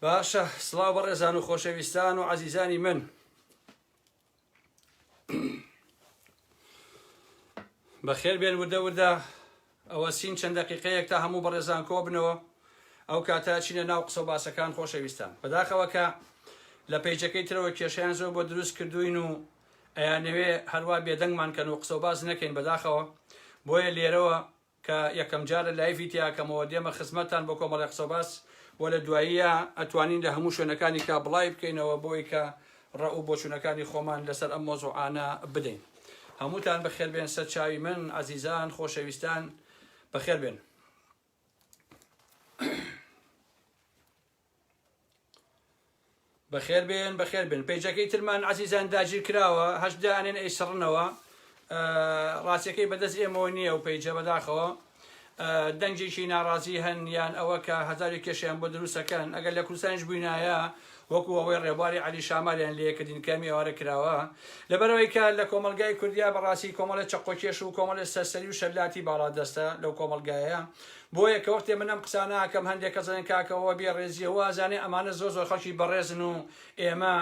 باشە سڵاو بەڕێزان و خۆشەویستان و عزیزانی من بەخێر بێن وردە وردە ئەوە سین چەند دقیقەیەک تا هەموو بەڕێزان کۆ بنەوە ئەو کاتە چینە ناو قسە باسەکان خۆشەویستان بەداخەوەکە لە پەیجەکەی ترەوە کێشیان زۆر بۆ دروست کردوین و ئەیانەوێ هەروە بێدەنگمان کەن و قسە باز نەکەین بەداخەوە بۆیە لێرەوە کە یەکەم جارە لایڤی تیا کەمەوە دێمە خزمەتان بۆ کۆمەڵێ قسەوباس وە لە دواییە ئەتوانین لە هەموو شوێنەکانی کا بڵاوی بکەینەوە بۆی کە ڕە و بۆچونەکانی خۆمان لەسەر ئەم مۆزوعانە بدەین هەمووتان بەخێر بێن سەر چاوی من عزیزان خۆشەویستان بەخێر بێن بەخێر بێن بەخێر بێن پێجەکەی ترمان عزیزان داگیر کراوە هەش دانێن ئەی سڕنەوە ڕاستەکەی بەدەست ئێمەوە نییە و پێیجە بەداخەوە دەنگێکی ناڕازی هەن یان ئەوە کە هەزاری کێشیان بۆ دروستەکەن ئەگەر لە کوردستانیش بووینایە وەکو ئەوەی ڕێبواری علی شاماریان لەکردین کەمی ئەوارە کراوە لەبەرەوەی کە لە کۆمەلگای کوردیا بەڕاستی کۆمەڵە چەقۆکێش و کۆمەڵە سەرسەری و شەلاتی باڵادەستە لەو کۆمەلگایە بۆیە کە وەختێ من ئەم قسانە ئەکەم هەندێک کەس دەڵێن کاکە ئەوە بێ ڕێزیە وا ئەزانێ ئەمانە زۆر زۆر خەڵکی بەڕێزن و ئێمە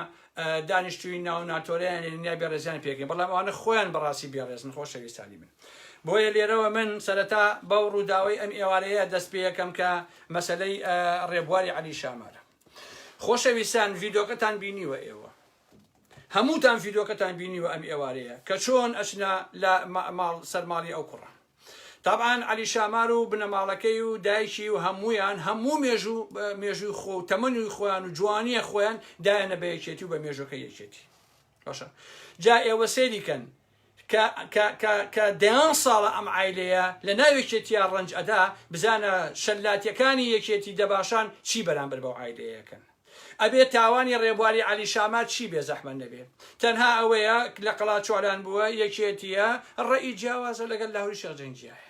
دانیشتووی ناو ناتۆرەیان لێ نیا بێڕێزیان پێکەین بەڵام ئەوانە خۆیان بەڕاستی بێڕێزن خۆشەویستانی من بۆیە لێرەوە من سەرەتا بەو ڕووداوەی ئەم ئێوارەیە دەست پێ یەکەم کە مەسلەی ڕێبواری علی شامارە خۆشەویستان ڤیدۆکەتان بینیوە ئێوە هەمووتان ڤیدۆکەتان بینیوە ئەم ئێوارەیە کە چۆن ئەچنا لە ماڵ سەرماڵی ئەو کوڕە تەبعەن عەلی شامار و بنەماڵەکەی و دایکی و هەموویان هەموو مێژوو مێژووی خۆ و تەمەنی خۆیان و جوانیە خۆیان دایەنە بە یەکێتی و بە مێژۆکە یەکێتی باشە جا ئێوە سەیری کەن کە دەیان ساڵە ئەم عیلەیە لە ناوێکێتیا ڕەنج ئەدا بزانە شەلاتیەکانی یەکێتی دەباشان چی بەرامبەر بەو عیلەیەکەن ئەبێ تاوانی ڕێبواری عەلی شامات چی بێ زەحمەت نەبێ تەنها ئەوەیە لە قەڵاچۆالان بووە یەکێتیە ڕەئی جیاوازە لەگەل لاهوری شێخ جەنگیایە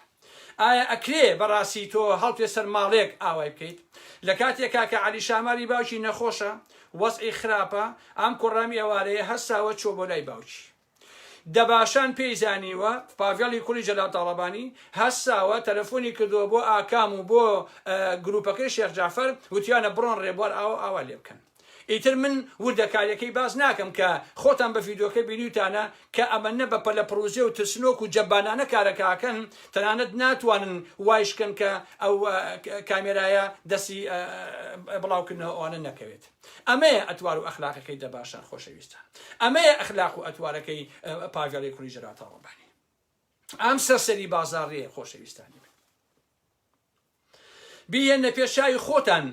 ئایا ئەکرێ بەڕاستی تۆ هەڵتێ سەر ماڵێک ئاوای بکەیت لە کاتێکا کە عەلی شاماری باوکی نەخۆشە وەزعی خراپە ئەم کوڕەم ئێوارەیە هەر ساوە چووە بۆ لای باوکی دەباشان پێی زانیوە پاڤێڵی کوڕی جەلال تاڵەبانی هەستاوە، تەلەفۆنی کردووە بۆ ئاکام و بۆ گرووپەکەی شێخ جەعفەر، وتویانە بڕۆن ڕێبوار ئاوا و ئاوا لێ بکەن. ئیتر من وردەکارییەکەی باس ناکەم کە خۆتان بە ڤیدیۆکە بینیوتانە کە ئەمەنە بە پەلەپڕووزێ و ترسنۆک و جەبانانە کارەکەاکەن، تەنانەت ناتوانن وایش کەن کە ئەو کامێرایە دەستی بڵاوکردنەوە ئەوانە نەکەوێت. ئەمەیە ئەتوار و ئەخلاقەکەی دەباشان خۆشەویستان ئەمەیە ئەخلاق و ئەتوارەکەی پاگەڵی کوڕی ژەرا تاڵەبانی ئەم سەرسەری بازاڕیە خۆشەویستانی من بیهێنە پێ چاوی خۆتان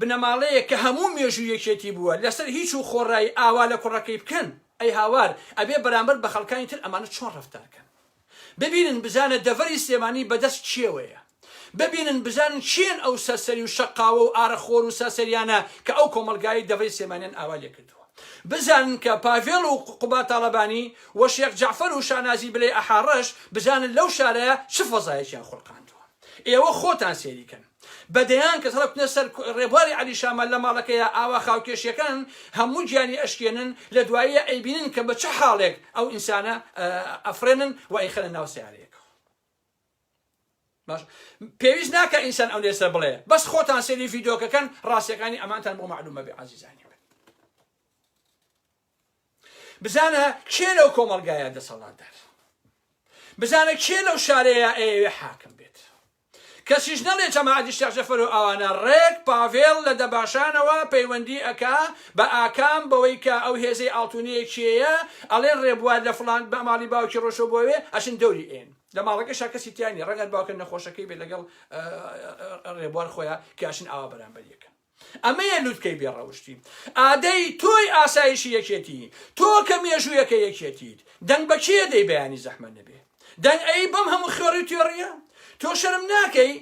بنەماڵەیە کە هەموو مێژوو یەکێتی بووە لەسەر هیچ و خۆڕایی ئاوا لە کوڕەکەی بکەن ئەی هاوار ئەبێ بەرامبەر بە خەڵکانی تر ئەمانە چۆن ڕفتارکەن ببینن بزانە دەڤەری سلێمانی بەدەست کێوەیە ببینن بزانن کێن ئەو سەرسەری و شەقاوە و ئارە خۆر و سەرسەریانە کە ئەو کۆمەڵگایەی دەڤەری سلێمانیان ئاوا لێکردووە بزانن کە پاڤێڵ و قوباد تاڵەبانی و شێخ جەعفەر و شانازی بلەی ئەحاڕەش بزانن لەو شارە چ فەزایەکیان خولقاندووە ئێوە خۆتان سەیری کەن بە دەیان کەس هەڵکوتنە سەر رێبواری عەلی شامال لە ماڵەکەیا ئاوا خاوکێشیەکان هەموو گیانی ئەشکێنن لە دواییە ئەیبینن کە بە چ حاڵێک ئەو ئینسانە ئەفرێنن و ئەیخەنە ناو سەیارەیەکەوە باش پێویست ناکە ئینسان ئەو لێسەر بڵێ بەس خۆتان سێری ڤیدۆکەکەن ڕاستەکانی ئەمانتان بۆ معلومە بێ عزیزانی من بزانە کێ لەو کۆمەلگایە دەسەڵاتدار بزانە کێ لەو شارەیە ئەیەوێ حاکم بێت کەسیش نەڵێ جەماعەتی شێخ جەفەر و ئەوانە، ڕێک پاڤێڵ لە دەباشانەوە پەیوەندی ئەکا بە ئاکام بەوەی کە ئەو هێزەی ئاڵتونیە کێیە، ئەڵێن ڕێبوار لە فڵان بە ماڵی باوکی ڕۆشتوە بۆ ئەوێ، ئەچن دەوری ئەیەن. لە ماڵەکەشا کەسی تیا نیە، ڕەنگە باوکە نەخۆشەکەی بێ لەگەڵ ڕێبوار خۆیا کە ئەچن ئاوا بەرامبەری ئەکەن. ئەمەیە لوتکەی بێ ڕەوشتی. ئادەی تۆی ئاسایشی یەکێتی تۆ کە مێژوویەکە یەکێتیت دەنگ بە کێ دەی بەیانی زەحمەت نەبێ دەنگ ئەی بەم هەموو خوێڕی و توێڕیە تۆ شەرم ناکەی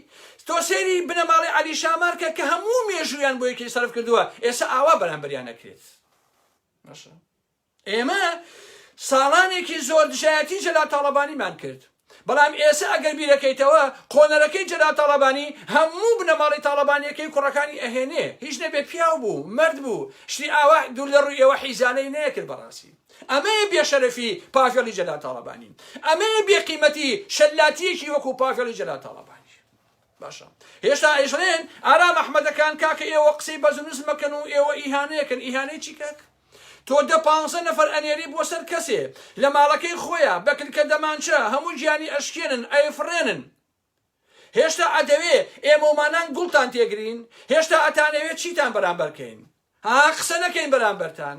تۆ سەیری بنەماڵەی عەلی شامار کە کە هەموو مێژوویان بۆ یەکێتی سەرف کردووە ئێسە ئاوا بەرامبەریان ئەکرێت ماشا. ئێمە ساڵانێکی زۆر دژایەتی جەلال تاڵەبانیمان کرد، بەڵام ئێسە ئەگەر بیرەکەیتەوە قۆنەرەکەی جەلال تاڵەبانی هەموو بنەماڵەی تاڵەبانیەکەی کوڕەکانی ئەهێنێ هیچ نەبێ پیاو بوو مەرد بوو شتی ئاوا دوور لە ڕووی ئێوە حیزانەی نەیەکرد بەڕاستی ئەمەیە بێشەرەفی پاڤێڵی جەلال تاڵەبانی ئەمەیە بێقیمەتی شەلاتیەکی وەکو پاڤێڵی جەلال تاڵەبانی باشە هێشتا ئەیشڵێن ئارام ئەحمەدەکان کاکە ئێوە قسەی بەزنس مەکەن و ئێوە ئیهانەیەکن ئیهانەی چی کاک تۆ دە پانزە نەفەر ئەنێری بۆ سەر کەسێ لە ماڵەکەی خۆیە بەکلکە دەمانچە هەموو گیانی ئەشکێنن ئەیفڕێنن هێشتا ئەدەوێ ئێمەمانان گوڵتان تێگرین هێشتا ئەتانەوێت چیتان بەرامبەرکەین ها قسە نەکەین بەرامبەرتان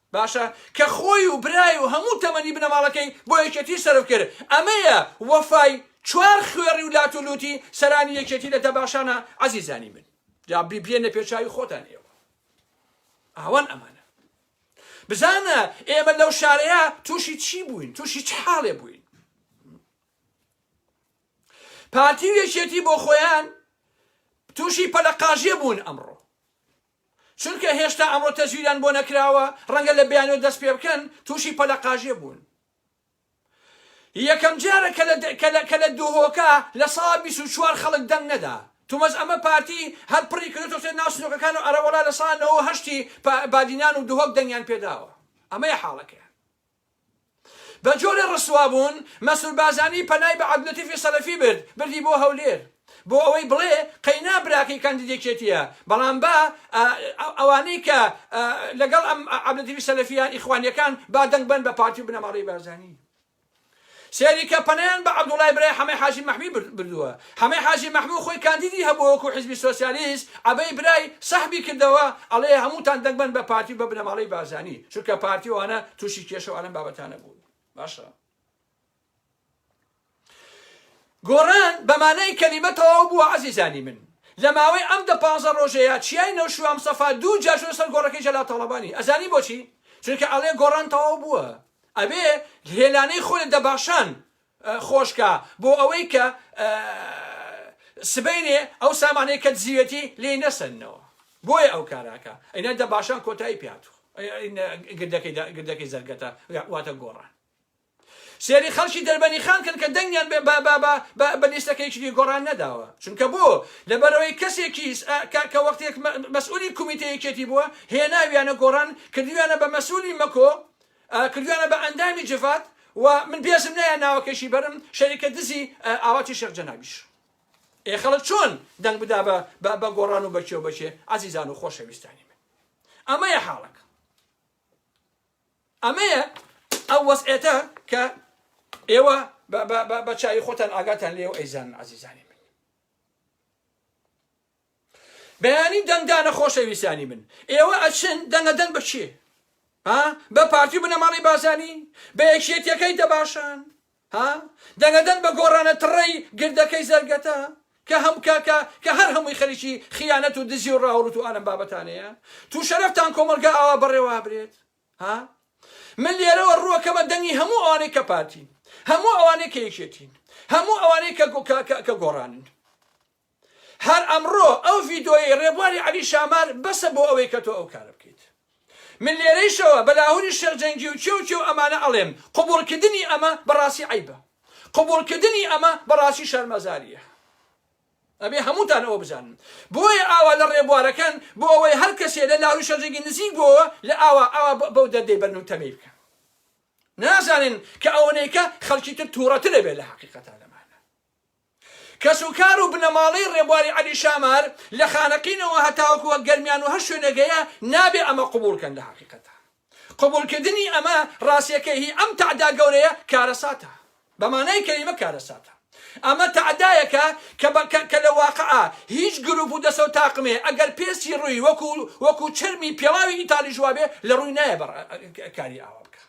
باشە کە خۆی و برای و هەموو تەمەنی بنەماڵەکەی بۆ یەکێتی سەرف کرد ئەمەیە وەفای چوار خوێڕی و لات و لوتی سەرانی یەکێتی لە دەباشانە عەزیزانی من جا بیبرێنە پێچاوی خۆتان ئێوە ئاوان ئەمانە بزانە ئێمە لەو شارەیە تووشی چی بووین تووشی چ حاڵێ بووین پارتی و یەکێتی بۆ خۆیان تووشی پەلەقاژێ بوون ئەمڕۆ چونکە هێشتا ئەمڕۆ تەزویریان بۆ نەکراوە، ڕەنگە لە بیانوێ دەست پێ بکەن، تووشی پەلەقاژێ بوون. یەکەم جارە کە لە کە لە کە لە دهۆکە لە سەدا بیست و چوار خەڵک دەنگ نەدا. تومەز ئەمە پارتی هەر پڕی کردۆتەوە چێتە ناو سندوقەکان و ئەرەوەڵا لە سەدا نەوەد و هەشت ی بادینان و دهۆک دەنگیان پێ داوە. ئەمەیە حاڵەکەیان. بەجۆرێ ڕسوا بوون مەسرور بارزانی پەنای بە عەبدولەتیفی سەلەفی برد بردی بۆ هەولێر بۆ ئەوەی بڵێ قەینا براکەی کاندید یەکێتیە بەڵام با ئەوانەی کە لەگەڵ ئەم عەبدولەتیفی سەلەفیە ئیخوانیەکان با دەنگ بەن بە پارتی و بنەماڵەی بارزانی سێری کە پەنایان بە عەبدوڵای برای حەمەی حاجی مەحمی بردووە. حەمەی حاجی مەحموو خۆی کاندیدی هەبووە وەکوو حیزبی سۆسیالیست، عەبەی برای سەحبی کردەوە، ئەڵێ هەمووتان دەنگ بەن بە پارتی و بە بنەماڵەی بارزانی، چونکە پارتی ئەوانە تووشی کێشە و ئەلەم بابەتانە بوون. باشە. گۆڕان بە مانای کەلیمە تەواو بووە عەزیزانی من. لە ماوەی ئەم دە پانزە ڕۆژەیا چیای نەوشیروان سەفا دوو جار چوونە سەر گۆڕەکەی جەلال تاڵەبانی. ئەزانی بۆچی؟ چونکە ئەڵێ گۆڕان تەواو بووە. ئەبێ هێلانەی خۆ لە دەباشان خۆش کا بۆ ئەوەی کە سبەینێ ئەو سامانەی کە دزیوێتی لێی نەسەنەوە بۆیە ئەو کاراکە ئەینا دەباشان کۆتایی پێاتوو گردەکەی زەرگەتە واتە گۆڕان سێری خەڵکی دەربەنی خان کن کە دەنگیان بێ بە لیستەکەیکی گۆڕان نەداوە چونکە بۆ لەبەرەوەی کەسێکی کە وەختێک مەسئولی کومیتەیەکێتی بووە هێناویانە گۆڕان کردویانە بە مەسولی مەکۆ کردویانە بە ئەندامی جڤات و من بێزم نایە ناوەکەیشی بەرم شەریکە دزی ئاواتی شێخ جەنابیش ئێ خەڵک چۆن دەنگ بدا بە بە گۆڕان و بەکێ و بەکێ ئازیزان و خۆشەویستانی من ئەمەیە حاڵەکە ئەمەیە ئەو وەسعێتە کە ئێوە بە چاوی خۆتان ئاگاتان لێ و ئەیزان عزیزانی بەیانی دەنگدانە خۆشەویستانی من ئێوە ئەچن دەنگەدەن بە کێ ها بە پارتی بنەماڵەی بازانی بە یەکیەتیەکەی دەباشان ها دەنگەدەن بە گۆڕانە تڕەی گردەکەی زەرگەتە کە هەم کاکە کە هەر هەمووی خەریکی خیانەت و دزی و ڕاوڕوت و ئالم بابەتانەیە تو شەرەفتان کۆمەڵگا ئاوا بەڕێوا برێت ها من لێرەوە ڕووەکەمە دەنگی هەموو ئەوانەی کە پارتین هەموو ئەوانەی کە یەکێتین هەموو ئەوانەی کە گۆڕانن هەر ئەمڕۆ ئەو ڤیدۆیەی ڕێبواری عەلی شامار بەسە بۆ ئەوەی کە تۆ ئەو کارە بکەیت من لێرەیشەوە بە لاهوری شێخ جەنگی و کێ و کێ و ئەمانە ئەڵێم قبوڵ کردنی ئەمە بە ڕاستی عەیبە قبوڵ کردنی ئەمە بە ڕاستی شەرمەزاریە ئەبێ هەمووتان ئەوە بزانن بۆیە ئاوا لە ڕێبوارەکەن بۆ ئەوەی هەر کەسێ لە لاهوری شێخ جەنگی نزیک بۆوە لە ئاوا ئاوا بەو دەردەی بەرن و تەمەی بکەن نازانن کە ئەوەنەی کە خەڵکی تر تووڕەترە بێ لە حەقیقەتان کەسوکار و بنەماڵەی رێبواری عەلی شامار لە خانەقینەوە هەتاوەکو وەک گەرمیان و هەر شوێنێگەیە نابێ ئەمە قبوڵ کەن لە هەقیقەتا قبوڵ کردنی ئەمە راسیەکەی هی ئەم تەعدا گەورەیە کارەساتە بە مانای کەلیمە کارەساتە ئەمە تەعدایەکە کە بە کە کە لە واقعا هیچ گروپ و دەسەو تاقمێ ئەگەر پێستی روی وەکو وەکو چەرمی پێڵاوی ئیتالیش وابێ لە روی نایە بەڕ کاری ئاوا بکا.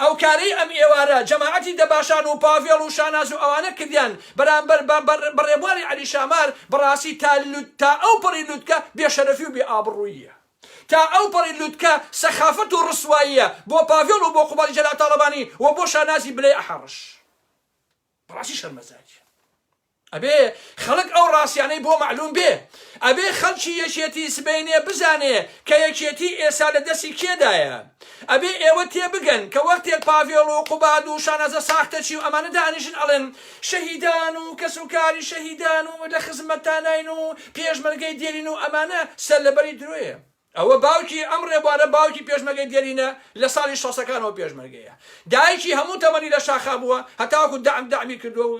ئەو کارەی ئەم ئێوارە جەماعەتی دەباشان و پاڤێڵ و شاناز و ئەوانە کردیان بەرامبەر بە بە ڕێبواری عەلی شامار بەڕاستی تا لوت تا ئەو پەڕی لوتکە بێ شەرەفی و بێ ئابڕووییە تا ئەو پەڕی لوتکە سەخافەت و ڕسواییە بۆ پاڤێڵ و بۆ قوبادی جەلال تاڵەبانی و بۆ شانازی بلەی ئەحەڕش. بەڕاستی شەرمەزاریە ئەبێ خەڵک ئەو ڕاستیانەی بۆ معلوم بێ ئەبێ خەڵکی یەکێتی سبینێ بزانێ کە یەکێتی ئێسا لە دەستی کێدایە ئەبێ ئێوە تێ بگەن کە وەختێک پاڤێڵ و قوباد و شانازە ساختەچی و ئەمانە دانیشن ئەڵێن شەهیدان و کەس و کاری شەهیدان و لە خزمەتانین و پێشمەرگەی دێرین و ئەمانە سەرلەبەری درۆیە ئەوە باوکی ئەم ڕێبوارە باوکی پێشمەرگەی دێرینە لە ساڵی شەستەکانەوە پێشمەرگەیە دایکی هەموو تەمەنی لە شاخا بووە هەتاوەکو دەعم دەعمی کردووە و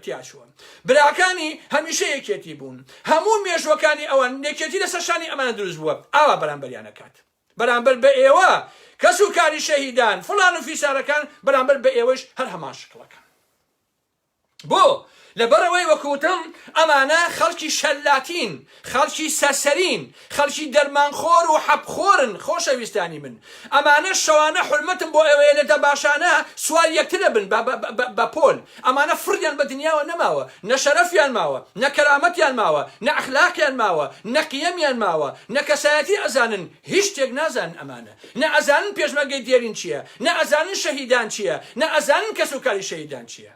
تیاچووە براکانی هەمیشە یەکێتی بوون هەموو مێژووەکانی ئەوان یەکێتی لەسەر شانی ئەمانە دروست بووە ئاوا بەرامبەریان ئەکات بەرامبەر بە ئێوە کەس و کاری شەهیدان فڵان و فیسارەکان بەرامبەر بە ئێوەش هەر هەمان شکڵەکەن بۆ؟ لەبەرئەوەی وەکو وتم ئەمانە خەڵکی شەلاتین، خەڵکی سەرسەرین، خەڵکی دەرمانخۆر و حەبخۆرن، خۆشەویستانی من، ئەمانە شەوانە حورمەتم بۆ ئەوەیە لە دەباشانە سواری یەکتر ئەبن بە بە پۆل، ئەمانە فڕیان بە دنیاوە نەماوە، نە شەرەفیان ماوە، نە کەرامەتیان ماوە، نە ئەخلاقیان ماوە، نە قیەمیان ماوە، نە کەسایەتی ئەزانن، هیچ شتێک نازانن ئەمانە، نە ئەزانن پێشمەرگەی دێرین چیە، نە ئەزانن شەهیدان چیە، نە ئەزانن کەس و کاری شەهیدان چیە.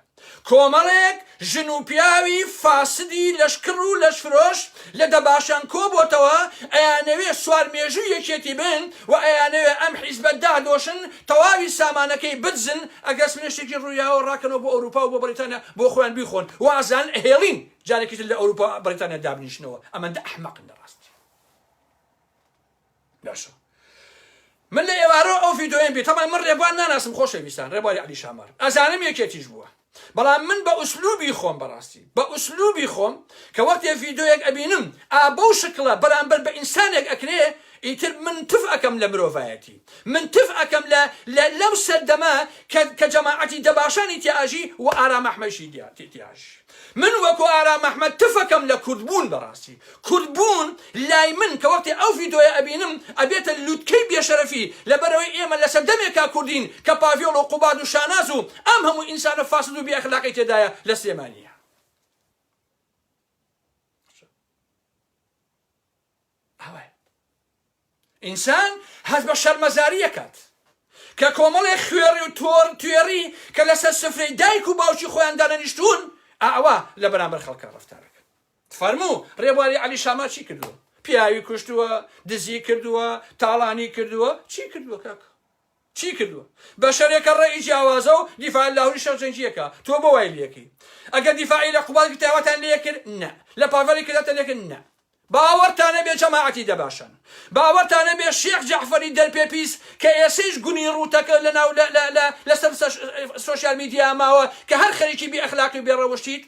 کۆمەڵێک ژن و پیاوی فاسدی لەشکڕ و لەشفرۆش لە دەباشان کۆبۆتەوە، ئەیانەوێ سوار مێژووی یەکێتی بن و ئەیانەوێ ئەم حیزبە دادۆشن، تەواوی سامانەکەی بدزن، ئەگەر سمێشکێکی ڕویاوە ڕاکەنەوە بۆ ئەوروپا و بۆ بەڕیتانیا بۆ خۆیان بیخۆن، وازانن ئەهێڵین جارێکی تر لە ئەوروپا و بەڕیتانیا دابنیشنەوە، ئەمەندە ئەحمەقن لە ڕاستی. باشە من لە ئێوارۆ ئەو ڤیدۆیەم بێت تەمان من ڕێبوار ناناسم خۆشەویستان ڕێبواری علی شامار ئەزانم یەکێتیش بووە بەڵام من بە ئوسلوبی خۆم بەڕاستی بە ئوسلوبی خۆم کە وەختێ ڤیدۆیەک ئەبینم ئا بەو شکڵە بەرامبەر بە ئینسانێک ئەکرێ ئیتر من تف ئەەکەم لە مرۆڤایەتی من تف ئەەکەم لە لە لەو سەردەمە کە جەماعەتی دەباشانی تیاژی و ئارام ئەحمەشی دیاتیاژی من وەکو ئارام ئەحمەد تفەکەم لە کورد بوون بەڕاستی کورد بوون لای من کە وەختی ئەو ڤیدۆیە ئەبینم ئەبێتە لوتکەی بێشەرەفی لەبەرئەوەی ئێمە لە سەردەمێکا کوردین کە پاڤێڵ و قوباد و شاناز و ئەم هەموو ئینسانە فاسد و بێ ئەخلاقەی تێدایە لە سلێمانیە ئاوایە ئینسان هەست بە شەرمەزاری ئەکات کە کۆمەڵێک خوێڕی و تۆر توێڕی کە لەسەر سفرەی دایک و باوکی خۆیان دانەنیشتون ئاوا لە بەرامبەر خەڵکە ڕفتارەکە فەرموو ڕێبواری علی شاما چی کردووە پیاوی کوشتووە دزی کردووە تاڵانی کردووە چی کردووە کاکە چی کردووە بەشەرێکە ڕەئی جیاوازە و دیفاع لاهوری شەڕ جەنگیەکە تۆ بۆ وای لێکەی ئەگەر دیفاعی لە قوباد کرد واتان لێکرد نا لە پاڤێڵی کرد واتان لێکرد نا باوەڕتان نەبێ جەماعەتی دەباشن باوەڕتان نەبێ شێخ جەعفەری دەرپێ پیس کە ئێسەیش گونی ڕووتەکە لەناو لە لە لە لەسەر سۆشیال میدیا ماوە کە هەر خەریکی بێ ئەخلاقی و بێ ڕەوشتیت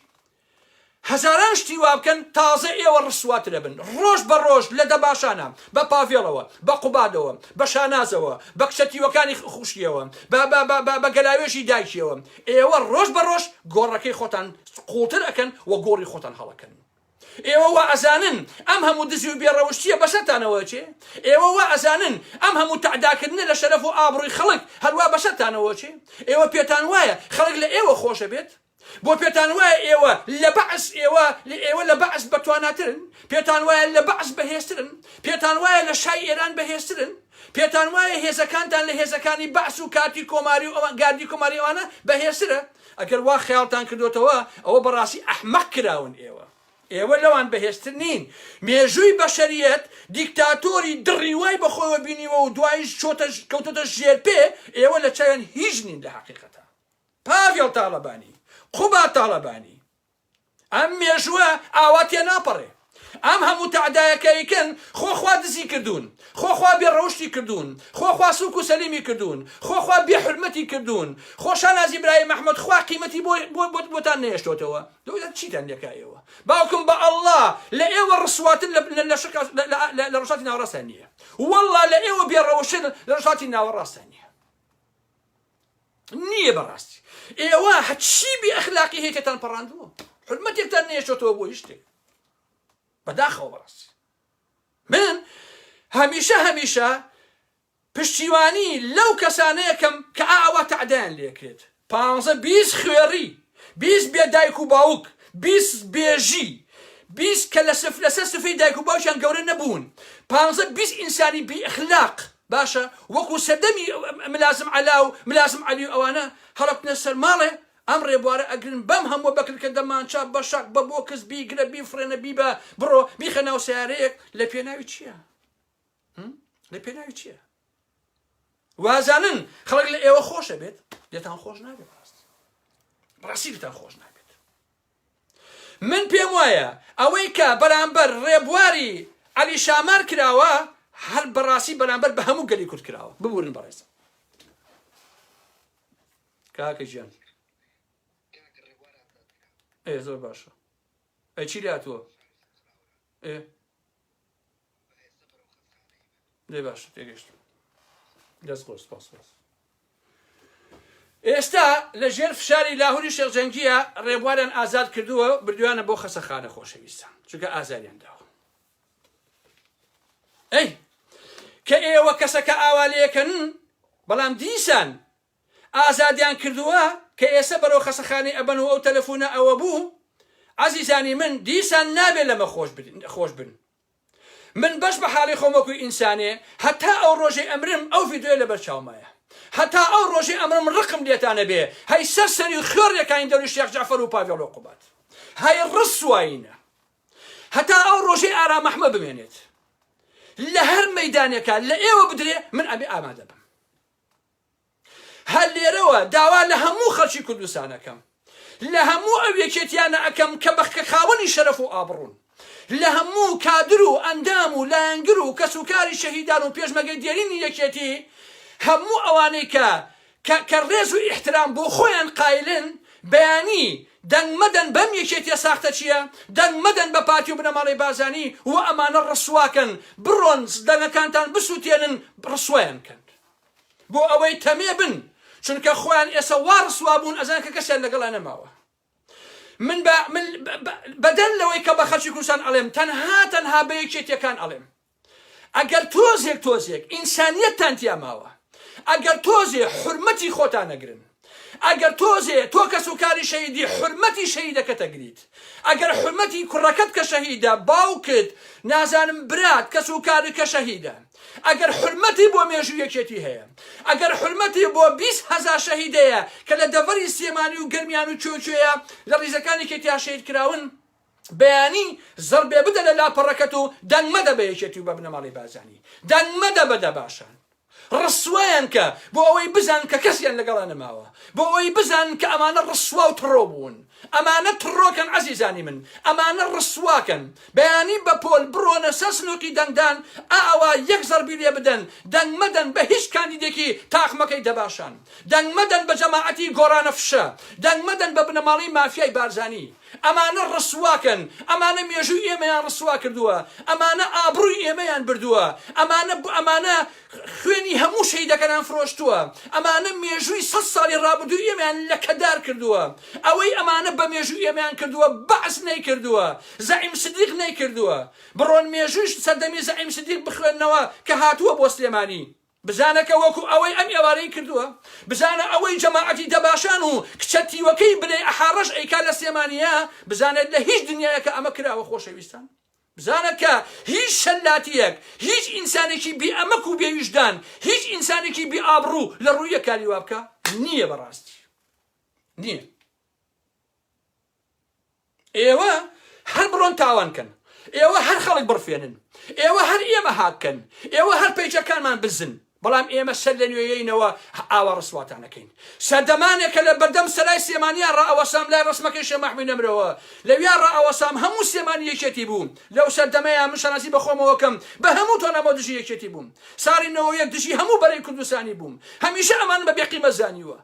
هەزاران شتی وا بکەن تازە ئێوە ڕسواتر ئەبن ڕۆژ بە ڕۆژ لە دەباشانە بە پاڤێڵەوە بە قوبادەوە بە شانازەوە بە کچە تیوەکانی خوشکیەوە بە بە بە بە بە گەلاوێژی دایکیەوە ئێوە ڕۆژ بە ڕۆژ گۆڕەکەی خۆتان قوڵتر ئەکەن و گۆڕی خۆتان هەڵەکەن ئێوە وا ئەزانن ئەم هەموو دزی و بێڕەوشتیە بەسەرتانەوە چێ ئێوە وا ئەزانن ئەم هەموو تەعداکردنە لە شەرەف و ئابڕووی خەڵک هەروا بەسەرتانەوە چێ ئێوە پێتان وایە خەڵک لە ئێوە خۆشە بێت بۆ پێتان وایە ئێوە لە بەعس ئێوە ئێوە لە بەعس بەتواناترن؟ پێتان وایە لە بەعس بەهێزترن؟ پێتان وایە لە شای ئێران بەهێزترن؟ پێتان وایە هێزەکانتان لە هێزەکانی بەعس و کارتی کۆماری و ئەوان گاردی کۆماری ئەوانە بەهێزترە؟ ئەگەر وا خەیاڵتان کردوتەوە ئەوە بەڕاستی ئەحمەق کراون ئێوە. ئێوە لەوان بەهێزتر نین مێژووی بەشەریەت دیکتاتۆری دڕی وای بەخۆیەوە بینیوە و دوایش چۆتە کەوتۆتە ژێرپێ ئێوە لە چاویان هیچ نین لە حەقیقەتە پاڤێڵ تاڵەبانی، قوباد تاڵەبانی، ئەم مێژووە ئاوا تێناپەڕێ. ئەم هەموو تەعدایە کە ئەیکەن، خۆ خوا دزی کردوون، خۆ خوا بێ ڕەوشتی کردوون، خۆ خوا سووک و سەلیمی کردوون، خۆ خوا بێ حورمەتی کردوون، خۆ شاناز ئیبراهیم ئەحمەد خوا قیمەتی بۆ بۆ بۆ بۆتان نەهێشتۆتەوە، دوو چیتان لێ کا ئێوە؟ باوکم بە ئەڵڵا لە ئێوە ڕسواتر لە لە لە شک لە لە لە لە ڕۆژهەڵاتی ناوەڕاستدا نییە. وەڵڵا لە ئێوە بێ ڕەوشتر لە ڕۆژهەڵاتی ناوەڕاستدا نییە. نیە بەڕاستی ئێوە هەچی بێ ئەخلاقی هەیتێتان پەڕاندووە حرمەتێکتان نێشتەوە بۆ هیشتێک بەداخەوە بەڕاستی من هەمیشە هەمیشە پشتیوانی لەو کەسانەیەکەم کە ئاوا تەعدایان لێکرێت پانزە بیست خوێڕی بیست بێ دایک و باوک، بیست بێژی، بیست کە لە سف لەسەر سفی دایک و باوکیان گەورە نەبوون، پانزە بیست ئینسانی بی ئەخلاق، باشە وەکو سەردەمی ملازم عەلا و ملازم عەلی و ئەوانە هەڵەبتنە سەر ماڵێ ئەم ڕێبوارە ئەگرن بەم هەمووە بە کلکە دەمانچە بە شەق بە بۆکس بیگرە بیفڕێنە بیبە بڕۆ بیخە ناو سەیارەیەک لە پێناوی چیە؟ لە پێناوی چییە وازانن خەڵک لە ئێوە خۆشە بێت لێتان خۆش نابێت ڕاست ڕاستی لێتان خۆش نابێت من پێم وایە ئەوەی کە بەرامبەر ڕێبواری علی شامار کراوە هەر بەڕاستی بەرامبەر بە هەموو گەلی کورد کراوە ببورن بەڕێزە کاکە گیان ئێ زۆر باشە ئەی چی لاتوە ئێ دەی باشە تێگەشتم دەست خۆش سپاس سپاس ئێستا لە ژێر فشاری لاهوری شێخجەنگیە ڕێبوارن ئازاد کردووە بردویانە بۆ خەسەخانە خۆشەویستان چونکە ئازاریان داوە ئەی کە ئێوە کەسەکە ئاوالەکەن بەڵام دیسان ئازادیان کردووە کە ئێستا بەرەو خەسەخانی ئەبەن و ئەو تەلەفۆنە ئەوە بوو عزیزانی من دیسان نابێت لەمە خۆش خۆش بن من بەش بە حاڵی خۆم وەکو ئینسانێ هەتا ئەو ڕۆژەی ئەمرم ئەو ڤیدیۆیە لەبەر چاومایە هەتا ئەو ڕۆژەی ئەمرم ڕقم لێتانە بێ هەی سەر سەری و خوێڕ ێکانی دەوری شێخ جەعفەر و پاڤێڵ و قوباد هەی ڕسوایینە هەتا ئەو ڕۆژەی ئارام ئەحمە بمێنێت لە هەر مەیدانێکا لە ئێوە بدرێ من ئەبێ ئامادە بم هەر لێرەوە داوا لە هەموو خەڵکی کوردستان ئەکەم، لە هەموو ئەو یەکێتیانە ئەکەم کە بە کە خاوەنی شەرەف و ئابڕوون، لە هەموو کادر و ئەندام و لایەنگر و کەسوکاری شەهیدان و پێشمەگەی دێرینی یەکێتی، هەموو ئەوانەی کە کە کە ڕێز و ئیحترام بۆ خۆیان قایلن، بەیانی دەنگ مەدەن بەم یەکێتیە ساختەچیە، دەنگ مەدەن بە پارتی و بنەماڵەی بارزانی و ئەمانە ڕسواکەن، بڕۆن دەنگەکانتان بسوتێنن، ڕسوایان کەن. بۆ ئەوەی تەمێ بن چونکە خۆیان ئێسە وا ڕسوا بوون ئەزان کە کەسیان لەگەڵا نەماوە من بە من بەدەر لەوەی کە بە خەلکی کوردستان ئەڵێم تەنها تەنها بە یەکێتیەکان ئەڵێم ئەگەر تۆزێک تۆزێک ئینسانیەتتان تیا ماوە ئەگەر تۆزێ حرمەتی خۆتان نەگرن ئەگەر تۆزێ تۆ کەس و کاری شەهیدی حورمەتی شەهیدەکەت ئەگریت ئەگەر حورمەتی کوڕەکەت کە شەهیدە باوکت نازانم برات کەس و کارت کە شەهیدە ئەگەر حورمەتی بۆ مێژوو یەکێتی هەیە ئەگەر حورمەتی بۆ بیست هەزار شەهیدەیە کە لە دەڤەری سلێمانی و گەرمیان و کوێ کوێیە لە ڕیزەکانی کەی تیا شەهید کراون بەیانی زەڕبێ بدە لە لاپەڕەکەت و دەنگ مەدە بە یەکێتی و بە بنەماڵەی بارزانی دەنگ مەدە بە دەباشان ڕسوایان کە بۆ ئەوەی بزانن کە کەسیان لەگەڵا نەماوە بۆ ئەوەی بزانن کە ئەمانە ڕسوا و تڕۆ بوون ئەمانە تڕۆکەن عەزیزانی من ئەمانە ڕسواکەن بەیانی بە پۆل بڕۆنە سەر سنووقی دەنگدان ئا ئەوە یەک زەڕبی لێ بدەن دەنگ مەدەن بە هیچ کاندیدێکی تاقمەکەی دەباشان دەنگ مەدەن بە جەماعەتی گۆڕانە فشە دەنگ مەدەن بە بنەماڵەی مافیای بارزانی ئەمانە ڕسواکەن، ئەمانە مێژووی ئێمەیان ڕسوا کردووە، ئەمانە ئابڕووی ئێمەیان بردووە، ئەمانە ئەمانە خوێنی هەموو شەهیدەکەنان فرۆشتووە، ئەمانە مێژووی سەد ساڵی ڕابردووی ئێمەیان لەکەدار کردووە، ئەوەی ئەمانە بە مێژووی ئێمەیان کردووە بەعس نەیکردووە، زەعیم سدیق نەیکردووە، بڕۆن مێژووی سەردەمی زەعیم سدیق بخوێننەوە کە هاتووە بۆ سلێمانی. بزانە کە وەکو ئەوەی ئەم ئێوارەی کردووە، بزانە ئەوەی جەماعەتی دەباشان و کچە تیوەکەی بنەی ئەحاڕەش ئەیکا لە سلێمانییە، بزانە لە هیچ دنیایەکا ئەمە کراوە خۆشەویستان؟ بزانە کە هیچ شەلاتییەک، هیچ ئینسانێکی بێ ئەمەک و بێ ویژدان، هیچ ئینسانێکی بێ ئابڕوو لە ڕوویەک کاری وا بکا؟ نییە بەڕاستی نییە. ئێوە هەر بڕۆن تاوان کەن، ئێوە هەر خەڵک بڕفێنن، ئێوە هەر ئێمە هاک کەن، ئێوە هەر پەیجەکانمان بزن، بەڵام ئێمە سەر لەنوێیەینەوە ئاوا ڕسواتان ئەکەین. سەردەمانێکە لە بەردەم سەرای سلێمانییان ڕائەوەسام لای ڕەسمەکەی شێخ مەحموی نەمرەوە، لەویا ڕائەوەسام هەموو سلێمانی یەکێتی بوو، لەو سەردەمەیا من شانازی بە خۆمەوە کەم بە هەمووتان ئەمەو دژی یەکێتی بووم، ساڵی نەوەو یەک دژی هەموو بەرەی کوردستانی بووم، هەمیشە ئەمانم بە بێقیمەت زانیوە.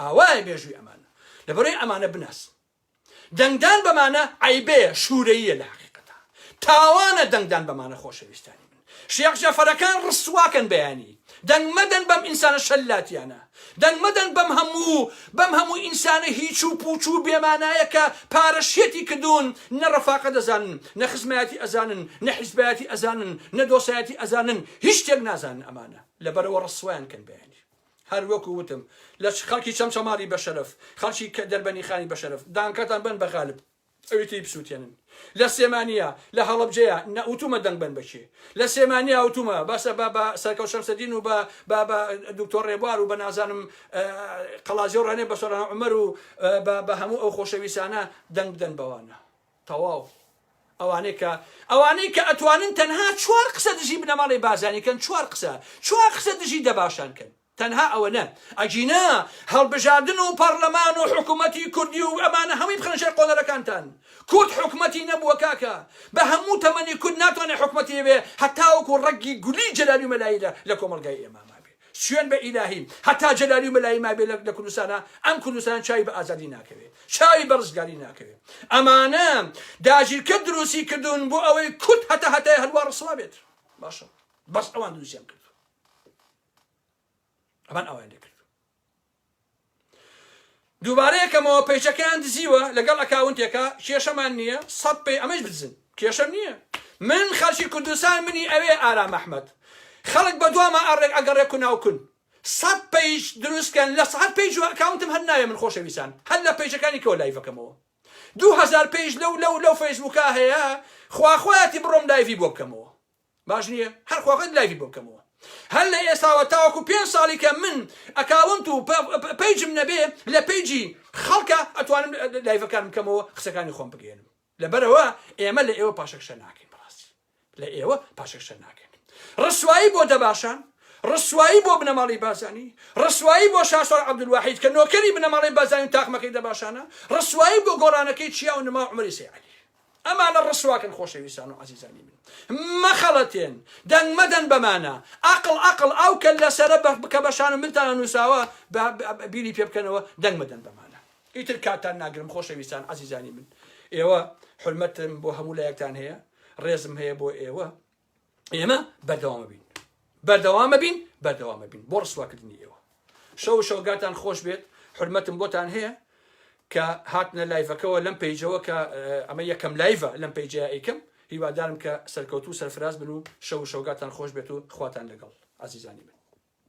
ئاوایە مێژووی ئەمان لەبەرەی ئەمانە بناسن دەنگدان بەمانە عەیبەیە شورەییە لە حەقیقەتا تاوانە دەنگدان بەمانە خۆشەویستانی من شێخ جەفەرەکان ڕسواکەن بەیانی دەنگ مەدەن بەم ئینسانە شەلاتیانە دەنگ مەدەن بەم هەموو بەم هەموو ئینسانە هیچ و پوچ و بێمانایە کە پارە شێتی کردوون نە ڕەفاقە دەزانن نە خزمایەتی ئەزانن نە حیزبایەتی ئەزانن نە دۆسایەتی ئەزانن هیچ شتێک نازانن ئەمانە لەبەرەوە ڕسوایان کەن بەیانی هەر وەکو وتم لە خەڵکی چەمچەماڵی بەشەرەف خەڵکی کە دەربەندیخانی بەشەرەف دانکاتان بەن بە غالب ئەوی تری بسوتێنن لە سلێمانیە لە هەڵەبجەیە نە وتومە دەنگ بەن بە کێ لە سلێمانیە وتومە بەسە بە بە سەرکەوت شەمسەدین و بە بە بە دکتۆر ڕێبوار و بە نازانم قەڵازیە و ڕەنێ بە سۆران عومەر و بە بە هەموو ئەو خۆشەویستانە دەنگ بدەن بەوانە تەواو ئەوانەی کە ئەوانەی کە ئەتوانن تەنها چوار قسە دژی بنەماڵەی بارزانی کەن چوار قسە چوار قسە دژی دەباشان کەن تەنها ئەوەنە ئەگینا هەڵبژاردن و پارلەمان و حکومەتی کوردی و ئەمانە هەمووی بخەنە ژێر قۆنەرەکانتان کورد حکومەتی نەبووە کاکە بە هەموو تەمەنی کورد ناتوانێت حکومەتی هەبێت هەتاوەکو ڕەگی گولی جەلالی و مەلایی لە لە کۆمەڵگای ئێمە مابێت سوێن بە ئیلاهی هەتا جەلالی و مەلایی مابێ لە کوردستانا ئەم کوردستانە چاوی بە ئازادی ناکەوێ چاوی بە ڕزگاری ناکەوێ ئەمانە داگیرکەر دروستی کردوون بۆ ئەوەی کورد هەتا هەتایە هەروا ڕسوا بێت باشە بەس ئەوان دروستیان کرد ئەمان ئەوان لێ کرد دووبارە یەکەمەوە پەیجەکەیان دزیوە لەگەڵ ئەکاونتێکا کێشەمان نییە سەد پەی ئەمەش بدزن کێشەم نییە من خەڵکی کوردستان منی ئەوێ ئارام ئەحمەد خەڵک بە دواما ئەڕێک ئەگەڕێ کوناو کون سەد پەیج دروستکەن لە سەد پەیج و ئەکاونتم هەر ناوێ من خۆشەویستان هەر لە پەیجەکانی کەوە لایڤەکەمەوە دوو هەزار پەیج لەو لەو لەو فەیسبووکا هەیە خواخوایەتی بڕۆم لایڤی بۆ بکەمەوە باش نیە هەر خواخۆت لایڤی بۆ بکەمەوە هەر لە ئێستاوە تاوەکو پێنج ساڵی کە من ئەکاونت و پەیجم نەبێ لە پەیجی خەڵکە ئەتوانم لایڤەکانم کەمەوە قسەکانی خۆم بگەێنم لەبەرەوە ئێمە لە ئێوە پاشەکشە ناکەین بەڕاستی لە ئێوە پاشەکشە ناکەین ڕسوایی بۆ دەباشان ڕسوایی بۆ بنەماڵی بازانی ڕسوایی بۆ شاسۆر عەبدولواحید کە نۆکەری بنەماڵی بازانی تاقمەکەی دەباشانە ڕسوایی بۆ گۆڕانەکەی چیا و نما عمری سیعلی ئەمانە ڕسواکەن خۆشەویستان و عەزیزانی من مەخەڵەتێن دەنگ مەدەن بەمانە ئەقڵ ئەقڵ ئەو کەللەسەرە بکە بە شان و ملتانە نووساوە بیری پێ بکەنەوە دەنگ مەدەن بەمانە ئیتر کاتان ناگرم خۆشەویستان عەزیزانی من ئێوە حرمەتم بۆ هەموو لایەکتان هەیە ڕێزم هەیە بۆ ئێوە ئێمە بەردەوامە بین بەردەوامە بین بەردەوامە بین بۆ ڕسواکردنی ئێوە شەو شەوگاتان خۆش بێت حرمەتم بۆتان هەیە کە هاتنە لایڤەکەەوە لەم پیجەوە کە ئەمە یەکەم لایڤە لەم پیجە ئەیکەم هیوادارم کە سەرکەوتو سەرفراز بن و شەو شەوگاتان خۆش بێت و خواتان لەگەڵ عزیزانی من